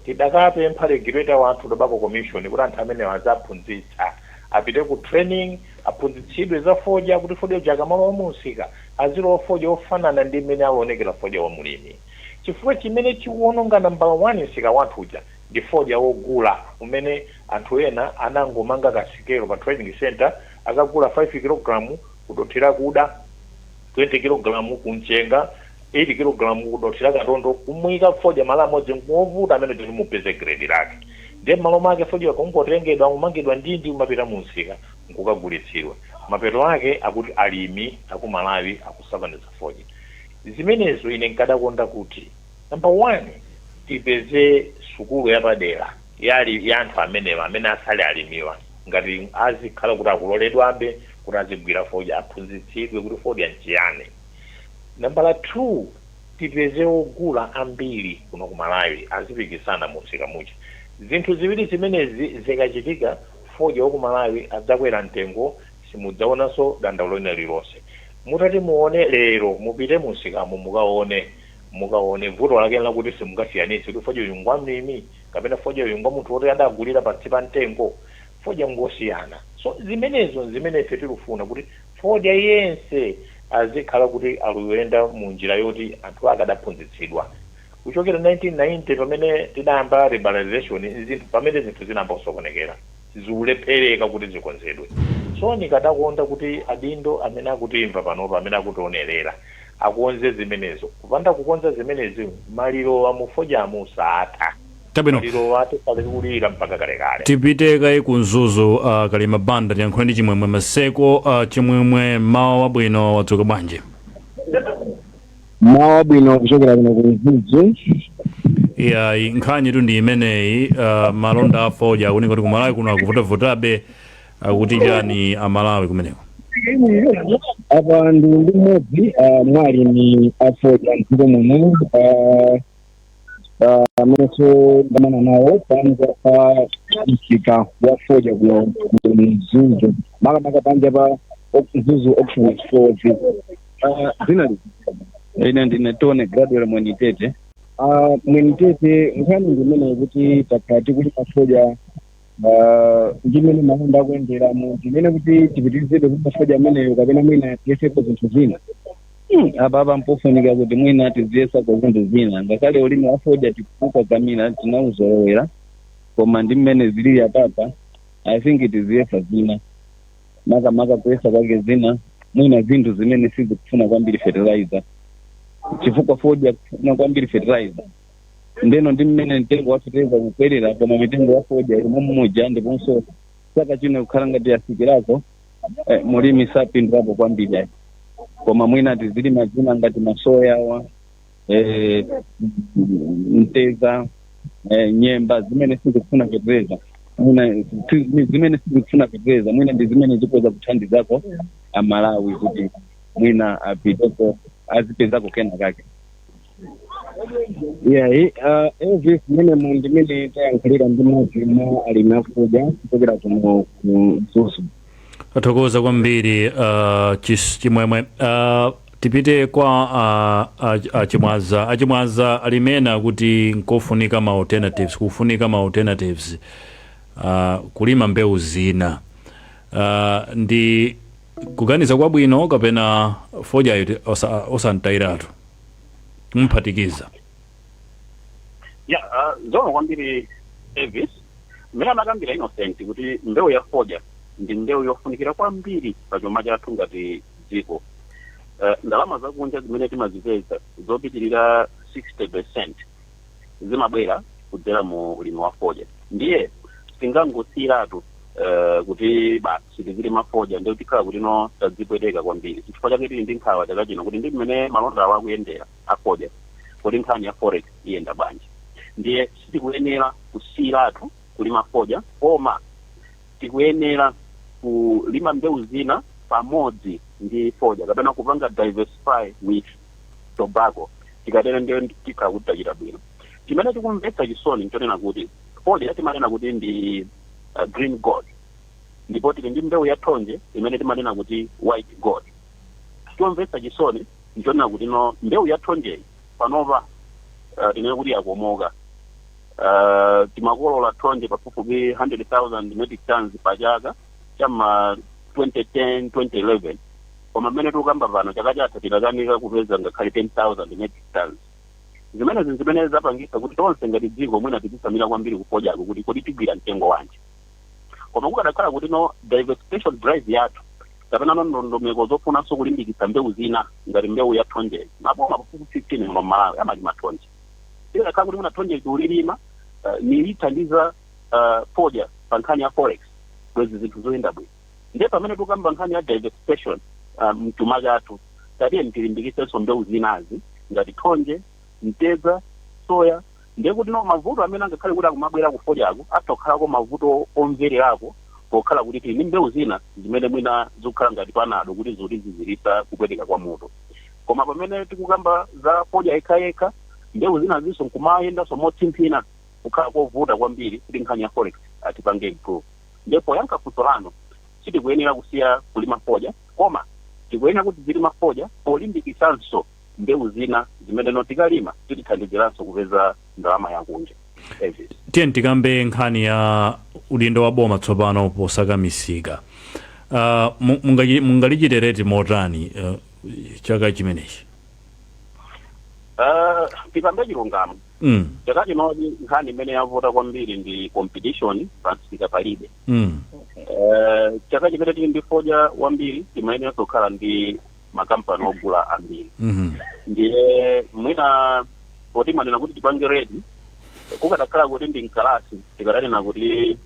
tidakapempha regulator wathu tobacco commission kuti anthu amenewa aziwaphunzitsa apite ku training Aphunzitsidwe za fodya kuti fodya uja akamalowa mu msika azilowa fodya ofanana ndi mmene aluonekera fodya wa mlimi. Chifukwa chimene chikuononga nambala wani msika wathu uja ndi fodya ogula umene anthu ena anangomanga ka sikelo pa trading centre akagula 5 kilogram ku dothi lakuda. 20 kilogalamu ku mchenga, 8 kilogalamu ku dothi la katondo, kumuika fodya malo amodzi ngovuta mmene tilimupeze grade lake. Ndiye mmalo mwake fodya kungotengedwa kumangidwa ndi kumapita mu msika nkukagulitsidwa. Mapeto ake akuti alimi aku Malawi akusakaniza fodya. Zimenezo ine nkadakonda kuti number one tipeze sukulu yapadera. ya ali, ya anthu amenewa, amene asali alimiwa ngati azikhala kuti akuloledwabe kuti azigwira fodya aphunzitsidwe kuti fodya nchiyani. Nambala 2, tipeze ogula ambiri kuno ku Malawi azipikisana mu msika muja. Zinthu ziwiri zimenezi zikachitika, fodya wa ku Malawi adzakwera mtengo simudzaonanso dandaulo lina lililonse. Mutati muone lero, mupite mu msikamu mukaone, mukaone vuto lake nlakuti simungasiyanitse kuti fodya uyu ngwa mlimi, kapena fodya uyu ngwamunthu woti adagulira pansi pa mtengo fodya ngosiyana so zimenezo nzimene ife tilufuna kuti fodya yense azikhala kuti aluyenda mu njira yoti anthu ake adaphunzitsidwa kuchokera 1990 pamene tidayamba liberalization nzinthu pamene zinthu zinayamba kusokonekera. zikulephereka kuti zikonzedwe. So nikadakonda kuti adindo amene akutimva panopa, amene akutionerera akonze zimenezo. Kupanda kukonza zimenezi malirowa mu fodyamu saatha. Chabwino. Malirowa tikhala tikuwalira mpaka kalekale. Tipite kaye ku Mzuzu, a Kalima Banda, tiyankhule ndi Chimwemwe Maseko. Chimwemwe, mmawa wabwino, wadzuka bwanji? mmawa wabwino kuchokera kuno ku mzuzu iyayi nkhanitu ndi imeneyi uh, malonda a fodya akuoneka kuti kumalawi kuno akuvutavutabe akuti chani amalawi kumeneko apa ndili ndi mmodzi ah, mwa alimi afodya mdziko muno ah, amenenso ndamana nawo panja pa msika wa fodya kuno ku mzuzu makamaka panja pa mzuzu auction floors Ah, dzina liti ine ndine tone graduate mwenitete Ah, mwenitete nkhani ndi imeneyi kuti takhala tikuti pafodya ah, ndi mmene malonda akuyenderamu ndimene kuti tipitirizebe kulima fodya ameneyo kapena mwina tiyeseko zinthu zina Hmm, apa apa mpofunika kuti mwina tiziyesako zinthu zina ngakhale ulimi wa fodya tikukakamira tinauzolowera koma ndi mmene zilili apapa i think tiziyesa zina makamaka kuyesa kwake zina mwina zinthu zimene sizikufuna kwambiri fertilizer chifukwa fodya akufuna kwambiri fertilizer ndeno ndi mmene mtengo wa fetereza ukukwerera koma mitengo ya fodya ili mommuja ndiponso chaka chino ikukhala ngati yasikirako eh, mulimi sapindulapo kwambiri ayi koma mwina tizilima zina ngati masoyawa eh, mteza eh, nyemba zimene sizikufuna fetereza mwina si- ni zimene sizikufuna fetereza mwina ndi zimene zikhoza kuthandizako amalawi kuti mwina apiteko azipezako kena kake iyayi uh, elvis mmene mu ndimene tayankhulira ndi mmodzi mwa alimi a fodya kuchokera kuno ku mzuzu tathokoza kwambiri uh, chis- chimwemwe uh, tipite kwa uh, ach- achimwaza achimwaza alimena kuti nkofunika ma alternatives kufunika ma alternatives uh, kulima mbewu zina uh, ndi kuganiza kwabwino kapena fodyayo osamtayiratu kumuphatikiza ya uh, zoona kwambiri elvis mmene anakambira innocent kuti mbewu ya fodya ndi mbewu yofunikira kwambiri pa chuma chathu ngati dziko uh, ndalama zakunja zimene timazipeza zopitirira 60 percent zimabwera kudzera mu ulimi wa fodya ndiye sitingangosiyiratu uh, kuti basi sitizilima fodya ndiye tikhala kutino tadzipweteka kwambiri chifukwa chake tili ndi nkhawa chaka chino kuti ndi mmene malondawo akuyendera afodya kodi nkhani ya forex iyenda bwanji ndiye sitikuyenera kusiyiratu kulima fodya koma tikuyenera kulima mbewu zina pamodzi ndi fodya kapena kupanga diversify with tobacco tikatero ndiye tikhala kuti tachita bwino chimene chikumvetsa chisoni nchonena kuti fodya timanena kuti ndi uh, green gold ndipo tili ndi mbewu ya thonje imene timanena kuti white gold. Chomvetsa chisoni n'chonena kutino mbewu ya thonjeyi panopa uh, tinene kuti yakomoka. Uh, timakolola thonje pafupifupi 100,000 metric tons pa chaka cha ma 2010 2011 koma mmene tikukamba pano chaka chatha tinakanika kupeza ngakhale 10,000 metric tons zimenezi ndi zimene zapangitsa kuti tonse ngati dziko mwina tizitsamira kwambiri kufodyaku kuti kodi tigwira mtengo wanji koma kukadakhala kutino diversification drive yathu kapenano ndondomeko zofunanso kulimbikitsa mbewu zina ngati mbewu ya thonje maboma pafupifupi 15 muno mmalawi amalima thonje ikadakhala kuti mwina thonjeli tikulilima uh, nilithandiza uh, fodya pa nkhani ya forex bwezi zinthu zikuyenda bwino ndiye pamene tikukamba nkhani ya diversification uh, mchuma chathu tatiyeni tilimbikitsenso mbewu zinazi ngati thonje mtedza soya Ndiye kuti no mavuto amene angakhale kuti akumabwera ku fodyaku atha kukhalako mavuto omvererako pokhala kuti tili ndi mbewu zina zimene mwina zikukhala ngati panado kuti zoti ziziritsa kupweteka kwa mutu. Koma pamene tikukamba za fodya yekhayekha, mbewu zinazinso nkumayendanso motsimphina kukhala kovuta kwambiri kuti nkhani ya forex atipange improve. Ndiye poyankha funso lanu, sitikuyenera kusiya kulima fodya koma tikuyenera kuti tizilima fodya polimbikitsanso. mbewu zina zimene no tikalima zitithandiziranso kupeza ndalama yakunja David. tiye tikambe nkhani ya udindo wa boma tsopano posaka misika uh, mu- mungachi- mungalichitereti motani uh, chaka chimenechi Ah, tikambe chilungamo mm, chaka chinochi nkhani imene yavuta kwambiri ndi competition pansika palibe mm, Eh, chaka chimene tili ndi fodya wambiri timayeneranso kukhala ndi makampani ogula ambiri Mhm. ndiye mwina poti mwanena kuti tipange rate kukadakhala kuti ndi mkalasi tikadanena kuti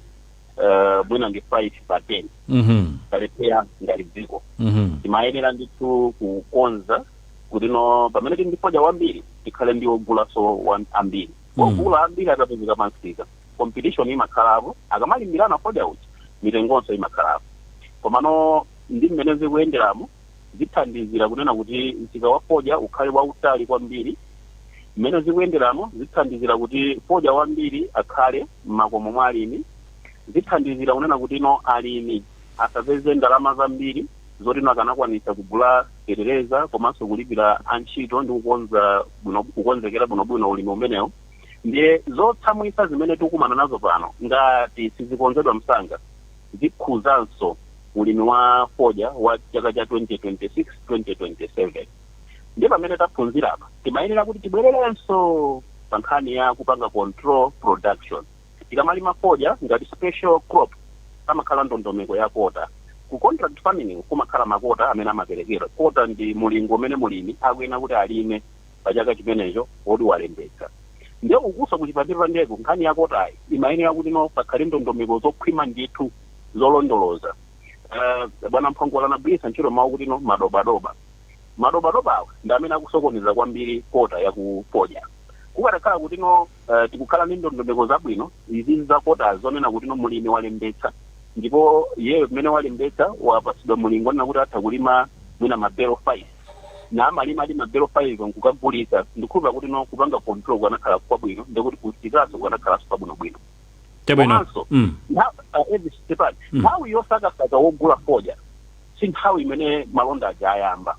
eh, mwina ndi 5 pa 10 Mhm. talephera ngati dziko Mhm. timayenera ndithu kukonza kuti no pamene tili ndi fodya wambiri tikhale ndi ogulaso wa- ambiri Mm. ogula ambiri akapezeka pansika competition imakhalapo akamalimbirana fodya uja mitengonso imakhalapo komano ndi mmene zikuyenderamu zithandizira kunena kuti msika wa fodya ukhale wautali kwambiri mmene zikuyenderamu zithandizira kuti fodya wambiri akhale m'makomo mwa alimi zithandizira kunena kuti no alimi asapeze ndalama zambiri zoti no akanakwanisa kugula fetereza komanso kulipira antchito ndi kukonza bwino kukonzekera bwinobwino ulimi umenewo ndiye zotsamwisa zimene tikukumana nazo pano ngati sizikonzedwa msanga zikhuzanso ulimi wa fodya wa chaka cha 2026, 2027. Ndiye pamene taphunzira apa, timayenera kuti tibwererenso pa nkhani ya kupanga control production. Tikamalima fodya ngati special crop, pamakhala ndondomeko ya kota. Ku contract farming kumakhala makota amene amaperekedwa. Kota ndi mulingo umene mulimi akuyenera kuti alime. pa chaka chimenecho woti walembetsa nde ukutha kuona kuti pandepandeko nkhani ya kotayi imayenera kuti no pakhale ndondomeko zokhwima ndithu zolondoloza uh, bwana Mphongolo anagwiritsa ntchito mawu kuti no madobadoba madobadoba awa ndi amene akusokoneza kwambiri kota yakufodya kukadakhala kuti no uh, tikukhala ndi ndondomeko zabwino izi za kota zonena kuti no mulimi walembetsa ndipo iyeyo mmene walembetsa wapatsidwa mulingo onena kuti atha kulima mwina mabelo 5 naamalimadi mabelo 5 nkukagulisa ndikhulupira kuti no kupanga control kukanakhala kwabwino ndekuti kumsikanso kukanakhalanso kwabwinobwino Chabwino. komanso Mm. na- uh, Elvis Stefan, Mm. nthawi yosakasaka wogula fodya si nthawi imene malonda aja ayamba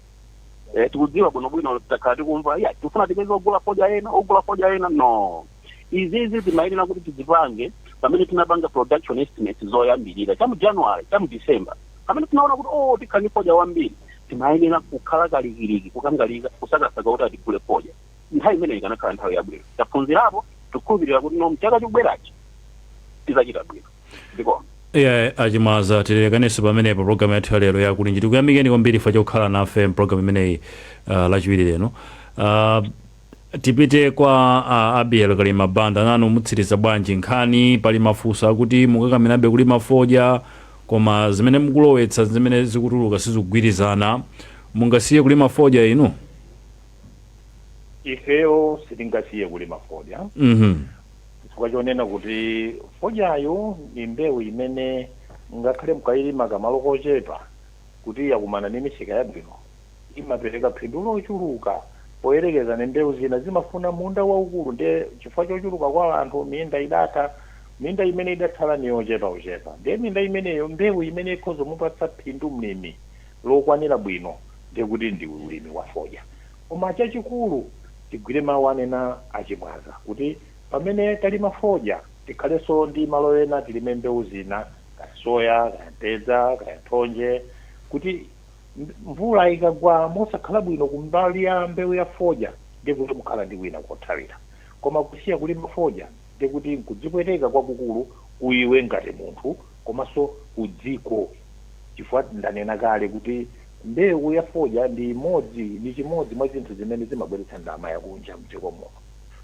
Eh, tikudziwa bwinobwino takhala tikumva, yah, tikufuna tipeze ogula fodya ena ogula fodya ena no izizi timayenera kuti tizipange pamene tinapanga production estimate zoyambirira chamu january chamu december pamene tinaona kuti o oh, tikhala ndi fodya wambiri timayenera kukhala kalikiliki kukangalika kusakasaka kuti atigule fodya nthawi imeneyi ikanakhala nthawi yabwino taphunzirapo tikukhulupirira kuti no mchaka chikubwerachi tizachita bwino ndipo inde a Chimwaza tilekanenso pamenepo programu yathu ya lero ya Kulinji tikuyamikeni kwambiri chifukwa chokhala nafe mpulogalamu imeneyi uh, lachiwiri lino uh, Tipite kwa a Abiel Kalima Banda, nanu mutsiriza bwanji nkhani? Pali mafunso akuti mukakamirabe kulima fodya koma zimene mukulowetsa ndi zimene zikutuluka sizikugwirizana. Mungasiye kulima fodya inu? Ifeyo sitingasiye kulima fodya Mhm. chifukwa chonena kuti fodyayu ndi mbewu imene ngakhale mukayilima pamalo kochepa kuti yakumana ndi misika yabwino imapereka phindu lochuluka poyerekeza ndi mbewu zina. Zimafuna munda waukulu ndiye chifukwa chochuluka kwa anthu, minda idatha. Minda imene idatsala ni yochepauchepa. Ndiye minda imeneyo, mbewu imene ikhoza kumupatsa phindu mlimi lokwanira bwino ndiye kuti ndi ulimi wa fodya. Koma chachikulu tigwire mawu anena a Chimwaza kuti pamene talima fodya tikhalenso ndi malo ena tilime mbewu zina kaya soya, kaya mtedza, kaya thonje kuti. Mvula ikagwa mosakhala bwino kumbali ya mbeu ya fodya ndiye kuti mukhala ndi kwina kothawira. Koma kusiya kulima fodya ndiye kuti nkudzipweteka kwakukulu ku iwe ngati munthu komanso ku dziko chifukwa ndanena kale kuti mbeu ya fodya ndi imodzi ndi chimodzi mwa zinthu zimene zimabweretsa ndalama ya kunja mdziko muno.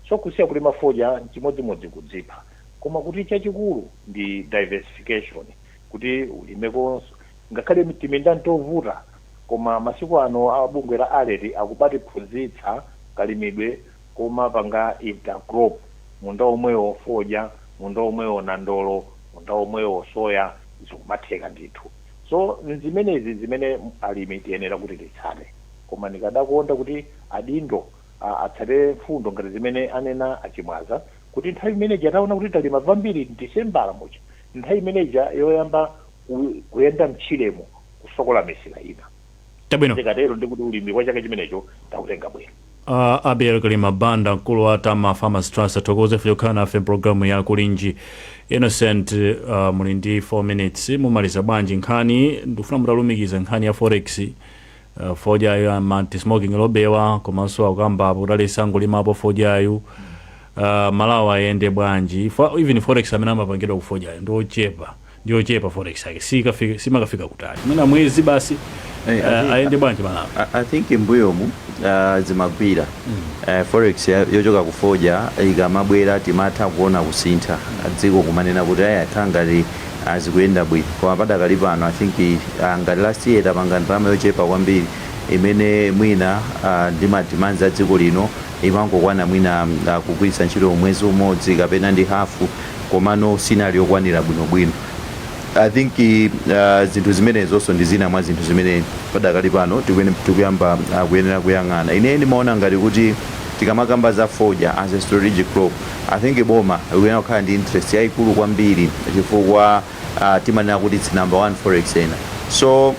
So kusiya kulima fodya nchimodzimodzi kudzipha. Koma kuti chachikulu ndi diversification. kuti ulimekonso. Ngakhale timinda n'tovuta, koma masiku ano a bungwe la ARET akumatiphunzitsa kalimidwe komapanga intercrop, munda womwewo fodya, munda womwewo nandolo, munda womwewo soya, zikumatheka ndithu. So n'zimenezi n'zimene alimi tiyenera kuti titsate. Koma ndikadakonda kuti adindo atsate mfundo ngati zimene anena a Chimwaza kuti nthawi imene ija taona kuti talima wambiri Disembala muja, Nthawi imene ija yoyamba ku, kuyenda mtchiremo kufukula misika ina. Chabwino. Zikatero ndiye kuti ulimi wa chaka chimenecho tautenga bwino. A Abiel Kalima Banda, mkulu wa Tama Farmers Trust tathokoza chifukwa chokhala nafe m'pulogalamu ya Kulinji. Innocent, ah, muli ndi 4 minutes, mumaliza bwanji nkhani? Ndikufuna mutalumikiza nkhani ya Forex, Eh, fodyayo ma anti smoking lobby-wa komanso akukambapo kuti aleke kungolimapo fodyayu uh, malawi ayende bwanji Fa, even forex amene amapangidwa ku fodyayo ndiochepa ndiochepa forex yake Sikafika- simakafika kutali mwina mwezi basi Eh, uh, ati- ayende bwanji malawi I, I think imbuyomu uh, zimagwira uh, forex ya- yochoka kufoja ikamabwera timatha kuona kusintha dziko kumanena kuti aya khangati Aaa zikuyenda bwino koma padakali pano I think aah ngati last year tapanga ndalama yochepa kwambiri imene mwina aah ndi ma demands a dziko lino imangokwana mwina aah kugwiritsa ntchito mwezi umodzi kapena ndi half komanso sinali yokwanira bwinobwino I think aah zinthu zimenezonso ndi zina mwa zinthu zimene padakali pano tikuyenera tikuyamba aah kuyenera kuyang'ana. Ine ndimaona ngati kuti tikamakamba za fodya as a strategic crop, I think boma likuyenera kukhala ndi interest yaikulu kwambiri chifukwa ah, timanena kuti its number one forex earner so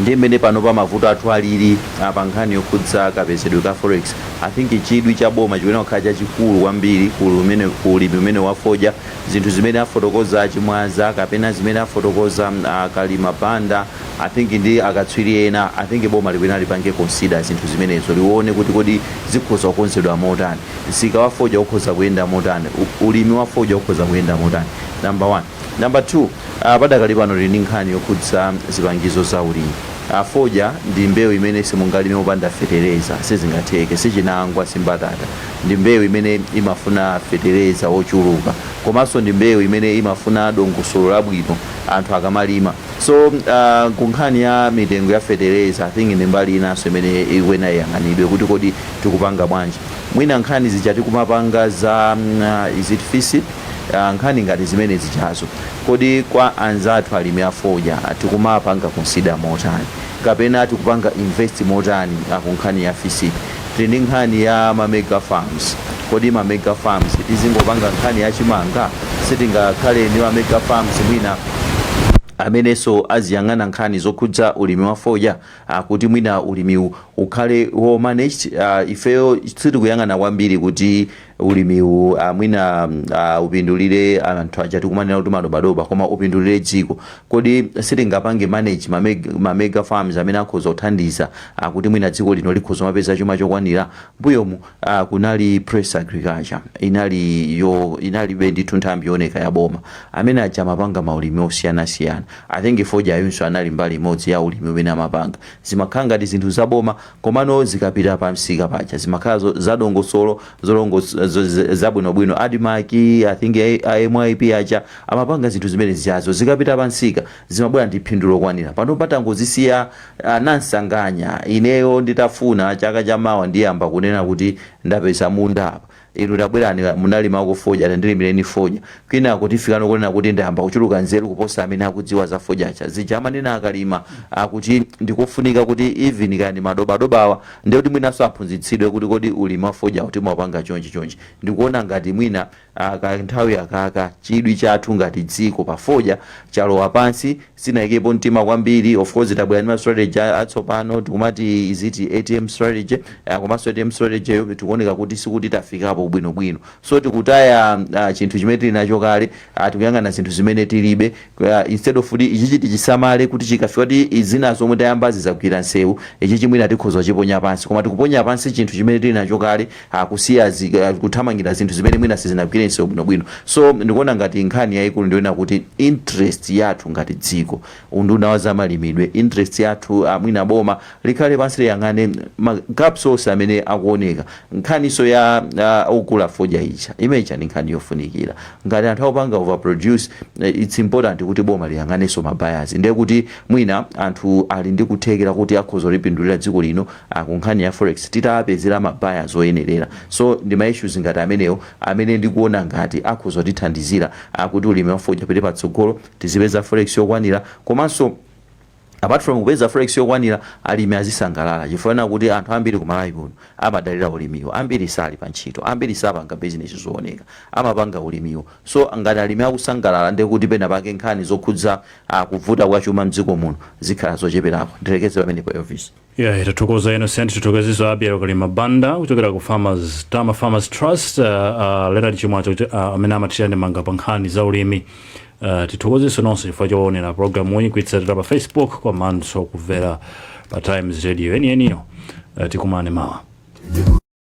ndi mmene panopa mavuto athu alili ah, pa nkhani yokhudza kapezedwe ka forex i think chidwi cha boma chikuyenera kukhala chachikulu kwambiri ku lumene- ku ulimi umene wafodya zinthu zimene afotokoza a Chimwaza kapena zimene afotokoza mm, ah, Kalima Banda I think ndi akatswiri ena, I think boma likuyenera lipange consider zinthu zimenezo, liwone kuti kodi zikhoza kukonzedwa motani. Msika wa fodya ukhoza kuyenda motani, u, ulimi wa fodya ukhoza kuyenda motani, number one. Number two, ah, padakali pano tili ndi nkhani yokhudza zipangizo za ulimi. Ah, fodya ndi mbewu imene simungalime opanda fetereza, sizingatheke, si chinangwa, si mbatata. Ndi mbewu imene imafuna fetereza wochuluka, komanso ndi mbewu imene imafuna dongosolo labwino anthu akamalima. So uh, ku nkhani ya mitengo ya fetereza I think ndi mbali inanso imene ikuyenera iyang'anidwe kuti kodi tikupanga bwanji mwina nkhani zija tikumapanga za mm, uh, is it fisip uh, nkhani ngati zimene zijazo kodi kwa anzathu alimi a fodya tikumapanga consider motani kapena tikupanga invest motani uh, ku nkhani ya fisip tili ndi nkhani ya ma mega farms kodi ma mega farms tizingopanga nkhani ya chimanga sitingakhale ndi ma mega farms mwina amenenso aziyang'ana nkhani zokhudza ulimi wa fodya ah, kuti mwina ulimiwu ukhale wo managed ah, ifeyo sitikuyang'ana kwambiri kuti ulimiwu ah, mwina mm, ah, upindulire anthu aja tikumanena kuti madobadoba koma upindulire dziko kodi sitingapange manage mameg- mamega farms amene akhoza kuthandiza ah, kuti mwina dziko lino likhoza kumapeza chuma chokwanira mbuyomu ah, kunali press agriculture inali yo inali ndithu nthambi yooneka ya boma amene aja amapanga maulimi osiyanasiyana i think fodyayunso anali mbali imodzi ya ulimi umene amapanga zimakhala ngati zinthu za boma Komano zikapita pa msika paja zimakhala zadongosolo, zabwinobwino. Admarc, i think a myp aja amapanga zinthu zimene zijazo. Zikapita pa msika zimabwera ndi phindu lokwanira. Panopa tangozisiya anansanganya. Ineyo nditafuna chaka cha mawa ndiyamba kunena kuti ndapeza munda apa. Inu tabwerani, munalimako fodya, tandilimireni fodya kwinaku tifikano kunena kuti ndayamba kuchuluka nzeru kuposa amene akudziwa za fodya aja. Zija amanena a Kalima a kuti ndi kofunika kuti even kaya ndi madobadobawa ndiye kuti mwinanso aphunzitsidwe kuti kodi ulimi wa fodyawu timaupanga chonchi chonchi. Ndikuona ngati mwina a kanthawi akaka chidwi chathu ngati dziko pa fodya chalowa pansi. sinaikepo mtima kwambiri of course tabwera ndi ma strategy a- atsopano tikumati is it atm strategy uh, komanso atm strategy yo tikuoneka kuti sikuti tafikapo bwinobwino so tikutaya uh, chinthu chimene tili nacho kale uh, tikuyang'ana zinthu zimene tilibe uh, instead of kuti ichichi tichisamale kuti chikafika kuti izina zomwe tayambazi zagwira nsewu ichichi mwina tikhoza kuchiponya pansi koma tikuponya pansi chinthu chimene tili nacho kale kusiya kuthamangira zinthu zimene mwina sizinagwire nsewu bwinobwino so ndikuona ngati nkhani yayikulu ndiyonena kuti interest yathu ngati dziko unduna wa zamalimidwe interest yathu mwina boma likhale pansi liyang'ane ma gaps onse amene akuoneka nkhaniso ya uh, ogula fodya ija imeja ndi nkhani yofunikira ngati anthu akupanga overproduce it's important kuti boma liyang'aneso ma buyers ndiye kuti mwina anthu ali ndi kuthekera kuti akhoza kulipindulira dziko lino a ku nkhani ya forex titawapezera ma buyers oyenerera so ndi ma issues ngati amenewo amene ndikuona ngati akhoza kutithandizira a kuti ulimi wa fodya upite patsogolo, tizipeza forex yokwanira komanso apart from kupeza forex yokwanira alimi azisangalala chifukwa chonena kuti anthu ambiri ku Malawi kuno amadalira ulimiwu, ambiri sali pa ntchito, ambiri sapanga business zooneka amapanga ulimiwu so ngati alimi akusangalala ndiye kuti penapake nkhani zokhudza a kuvuta kwa chuma m'dziko muno zikhala zocheperako. Ndilekeze pamenepo Elvis. Yeah, tathokoza innocent tithokozeso abiel kalima banda kuchokera ku tama farmers trust uh, uh, leonard chimwaza kuti uh, amene amathira ndemanga pa nkhani za ulimi uh, tithokozeso nonse chifukwa choonera programu iyi kuitsatira pa facebook komanso kumvera pa times radio yeniyeniyo uh, tikumane mawa